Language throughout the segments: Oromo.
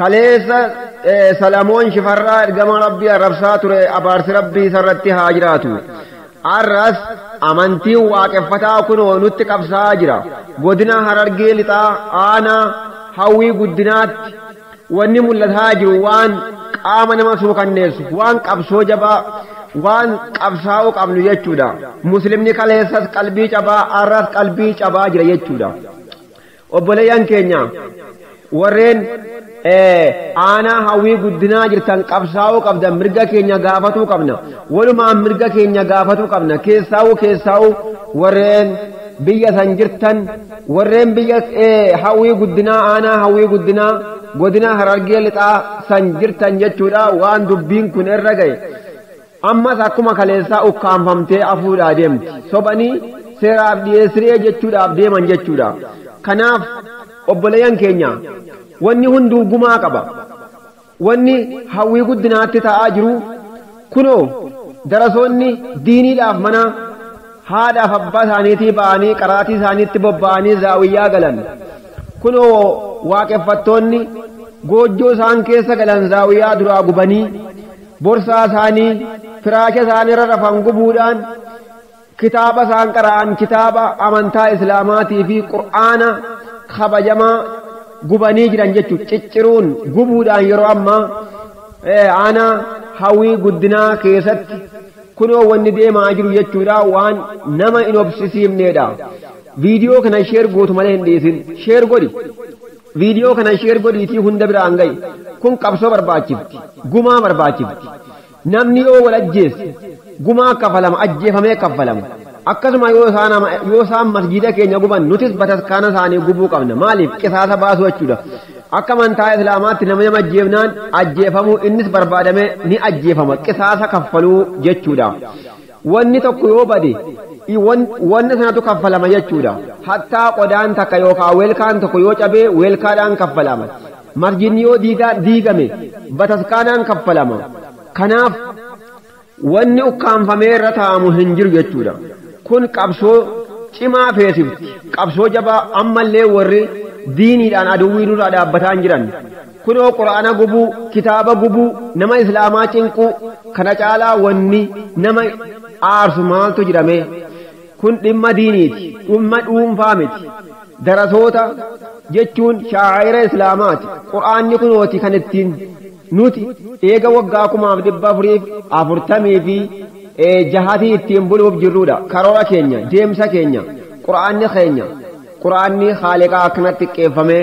Kaleessa Salamoon Shifarraa ergamaa Rabbii arrabsaa ture abaarsi Rabbii isarratti haa jiraatu. Arras amantiin waaqeffataa kunoo nutti qabsaa'aa jira. Godina Harargee Lixaa aanaa Hawwii Guddinaatti wanni mul'ataa jiru waan qaama nama suukanneessu, waan qabsoo jabaa, waan qabsaa'uu qabnu jechuudha. Muslimni kaleessas qalbii cabaa arras qalbii cabaa jira jechuudha. Obboleeyyan keenya warreen aanaa hawwii guddinaa jirtan qabsaa'uu qabdan mirga keenya gaafatuu qabna. Walumaan mirga keenya gaafatuu qabna. Keessaa'uu keessaa'uu warreen biyya san jirtan warreen biyya hawwii guddinaa aanaa hawwii guddinaa godina harargee lixaa san jirtan jechuudha waan dubbiin kun irra gahe. Ammas akkuma kaleessaa ukkaamfamtee afuudhaa deemti. Sobanii seeraaf dhiyeessi re'ee jechuudhaaf deeman jechuudha. Kanaaf obboleeyyan keenya wanni hunduu gumaa qaba. Wanni hawwii guddinaatti ta'aa jiru kunoo darasoonni diiniidhaaf mana haadhaaf abbaa isaaniitii ba'anii qaraatii isaaniitti bobba'anii zaawiyyaa galan. Kunoo waaqeffattoonni goojjoo isaan keessa galan zaawiyyaa duraa gubanii Borsaa isaanii firaasha isaan irra rafan gubuudhaan kitaaba isaan qara'an kitaaba amantaa Islaamaatii fi Qur'aana kabajamaa gubanii jiran jechuun cicciruun gubuudhaan yeroo ammaa aanaa hawwii guddinaa keessatti kunoo wanni deemaa jiru jechuudha waan nama hin obsisiifneedha. Viidiyoo kana sheer gootu malee hin dhiisin. Sheer godhi. Video kana share godhiitii hunda biraan ga'i. Kun qabsoo barbaachifti. Gumaa barbaachifti. Namni yoo wal ajjeesse gumaa kafalama ajjeefamee kaffalama. Akkasuma yoo isaan ama yoo isaan masgiida keenya guban nutis bataskaana isaanii gubuu qabna. Maaliif? Qisaasa baasuu jechuudha. Akka amantaa Islaamaatti namni nama ajjeefnaan ajjeefamuu innis barbaadamee ni ajjeefama. Qisaasa kaffaluu jechuudha. Wanni tokko yoo bade, i wan, wanna sanatu kaffalama jechuudha. Hattaa qodaan takka yookaa welkaan tokko yoo cabe welkaadhaan kaffalama. Masjidni yoo diigaan, diigame bataskaanaan kaffalama. Kanaaf wanni ukkaamfamee irra taa'amu hin jiru jechuudha. Kun qabsoo cimaa feesifti. Qabsoo jabaa ammallee warri diiniidhaan aduwwii nurraa dhaabbataa hin jiran. Kunoo qur'aana gubuu, kitaaba gubuu, nama islaamaa cinquu kana caalaa wanni nama aarsu maaltu jira mee? Kun dhimma diiniiti, dhimma dhuunfaa miti. Darasoota jechuun shaa'ira islaamaati. Qur'aanni kunooti kan ittiin nuti eega waggaa kumaaf dhibba afuriif afurtamii fi jahatii ittiin buluuf jirruudha. Karoora keenya, deemsa keenya, qur'aanni keenya. Qur'aanni Khaaliqaa akkanatti xiqqeeffamee,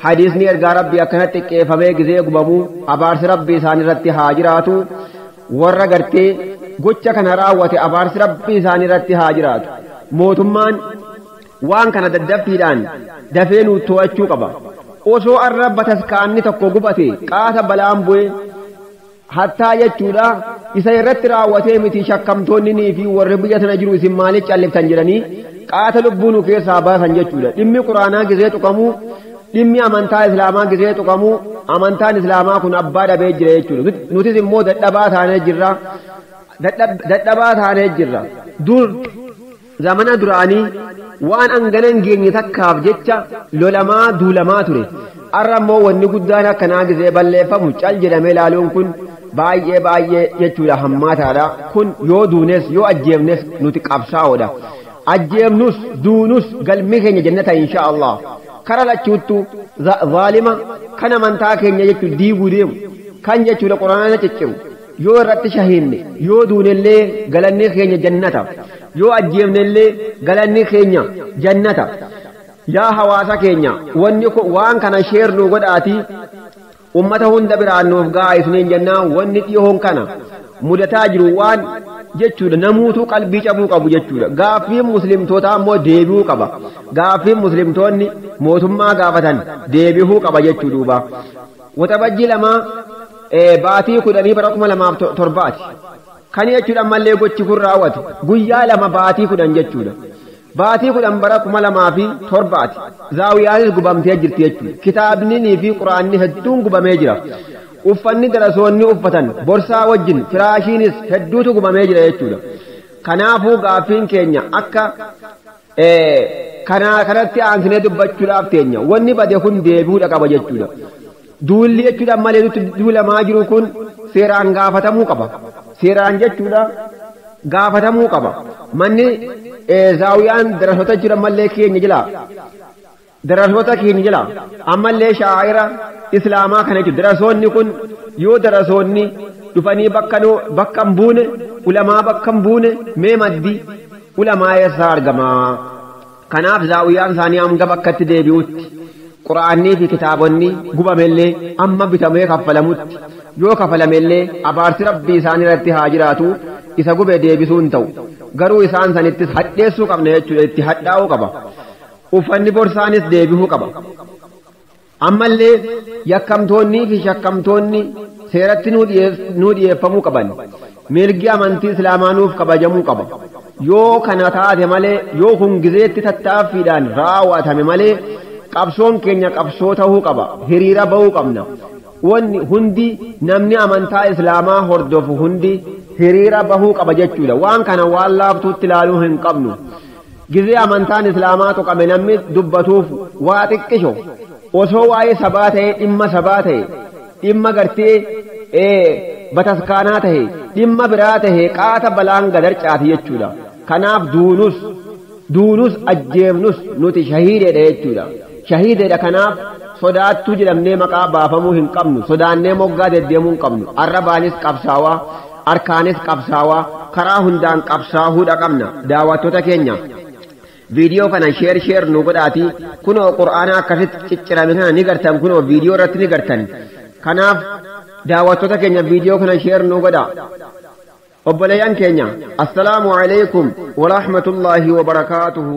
Hadiisni Ergaa Rabbii akkanatti xiqqeeffamee gizee gubamu abaarsi Rabbii isaanirratti haa jiraatu, warra gartee gocha kana raawwate abaarsi Rabbii isaanirratti haa jiraatu. Mootummaan waan kana daddaffiidhaan dafee nuu too'achuu qaba. Osoo arra bataskaanni tokko gubate qaata balaan bu'e, hattaa jechuudha isa irratti raawwatee miti shakkamtoonninii fi warri biyya sana jiru isin maaliif calliftan jedhanii qaata lubbuu nu keessaa baasan jechuudha dhimmi quraanaa gizee tuqamu dhimmi amantaa islaamaa gizee tuqamu amantaan islaamaa kun abbaa dhabee jira jechuudha nutis immoo dadhabaa taanee jirra dadhabaa taanee jirra dur Zamana duraanii waan angana hin geenye takkaaf jecha lolamaa duulamaa ture. Arra immoo wanni guddaan akkanaa gizee balleeffamu cal jedhamee laaluun kun baay'ee baay'ee jechuudha hammaataadha. Kun yoo duunes yoo ajjeefnes nuti qabsaa'oodha. Ajjeefnus duunus galmi keenya jannata inshaa Allaah. Kara lachuuttu zaalima kan amantaa keenya jechuun diiguu deemu. Kan jechuudha Qur'aana cicciru. Yoo irratti shahiidne, yoo duunellee galanni keenya jannata. Yoo ajjeefnellee galanni keenya jannata. Yaa hawaasa keenya wanni kun waan kana share nuu godhaatii ummata hunda biraan nuuf ga'aa isiniin jenna wanni dhihoon kana mudataa jiru waan jechuudha namuutuu qalbii cabuu qabu jechuudha gaaffiin muslimtootaa immoo deebi'uu qaba gaaffiin muslimtoonni mootummaa gaafatan deebihuu qaba jechuu duuba Waxabajjii 2, Baatii kudhanii bara 2007 ti. Kana jechuun ammallee gochi kun raawwate guyyaa 2 baatii 10 jechuudha. Baatii 10 bara 2007 ti. Zaawiyaanis gubamtee jirti jechuudha. Kitaabnii fi Qur'aanni hedduun gubamee jira. Uffanni darasoonni uffatan, borsaa wajjin, firaashiinis hedduutu gubamee jira jechuudha. Kanaafuu gaaffiin keenya akka Ee, kana kanatti aansinee dubbachuudhaaf teenya. Wanni bade kun deebi'uudha qaba jechuudha. Duulli jechuudha ammallee nutti duulamaa jiru kun seeraan gaafatamuu qaba. Seeraan jechuudha gaafatamuu qaba. Manni ee, zaawiyaan darasoota jechuudha ammallee keenya jala. Darasoota keenya jala ammallee sha'aa'ira Islaamaa kana jechuun darasoonni kun yoo darasoonni dhufanii bakka noo bakka hin buune ulamaa bakka hin buune mee maddi ulamaa eessaa argama? Kanaaf zaawiyaan isaanii hanga bakkatti deebi'utti Qur'aannii fi kitaabonni gubamellee amma bitamee kaffalamutti yoo kafalamellee abaarsi Rabbii isaan irratti haa jiraatu isa gube deebisuu hin ta'u. Garuu isaan sanittis hadheessuu qabna jechuudha itti hadhaa'uu qaba. Uffanni borsaanis deebihuu qaba. Ammallee yakkamtoonnii fi shakkamtoonni seeratti nuu dhiyeess- nuu dhiyeeffamuu qaban. Mirgi amantii Islaamaa nuuf kabajamuu qaba. Yoo kana taate malee, yoo kun gizeetti tattaaffiidhaan raaw'atame malee qabsoon keenya qabsoo tahuu qaba. Hiriira bahuu qabna. Wanni hundi namni amantaa Islaamaa hordofu hundi hiriira bahuu qaba jechuudha. Waan kana waan laaftuutti laaluu hin qabnu. Gizee amantaan Islaamaa tuqame namni dubbatuuf waa xiqqisho. Osoo waa'ee sabaa ta'ee dhimma sabaa ta'e, dhimma gartee bataskaanaa ta'e, dhimma biraa ta'e qaata balaan gad harcaati jechuudha. Kanaaf duunus, duunus ajjeefnus nuti shahiideedha jechuudha. Shahiideedha kanaaf sodaattuu jedhamnee maqaa baafamuu hin qabnu, sodaannee moggaa deddeemuu hin qabnu. Arrabaanis qabsaawaa. Arkaanis qabsaawaa karaa hundaan qabsaahuudha qabna daawattoota keenya viidiyoo kana sheer sheer nu godhaatii kunoo qur'aanaa akkasitti ciccirame kana ni gartan kunoo viidiyoo irratti ni gartan kanaaf daawattoota keenya viidiyoo kana sheer nu godha obboleeyyan keenya assalaamu alaykum warahmatullaahi wabarakaatuhu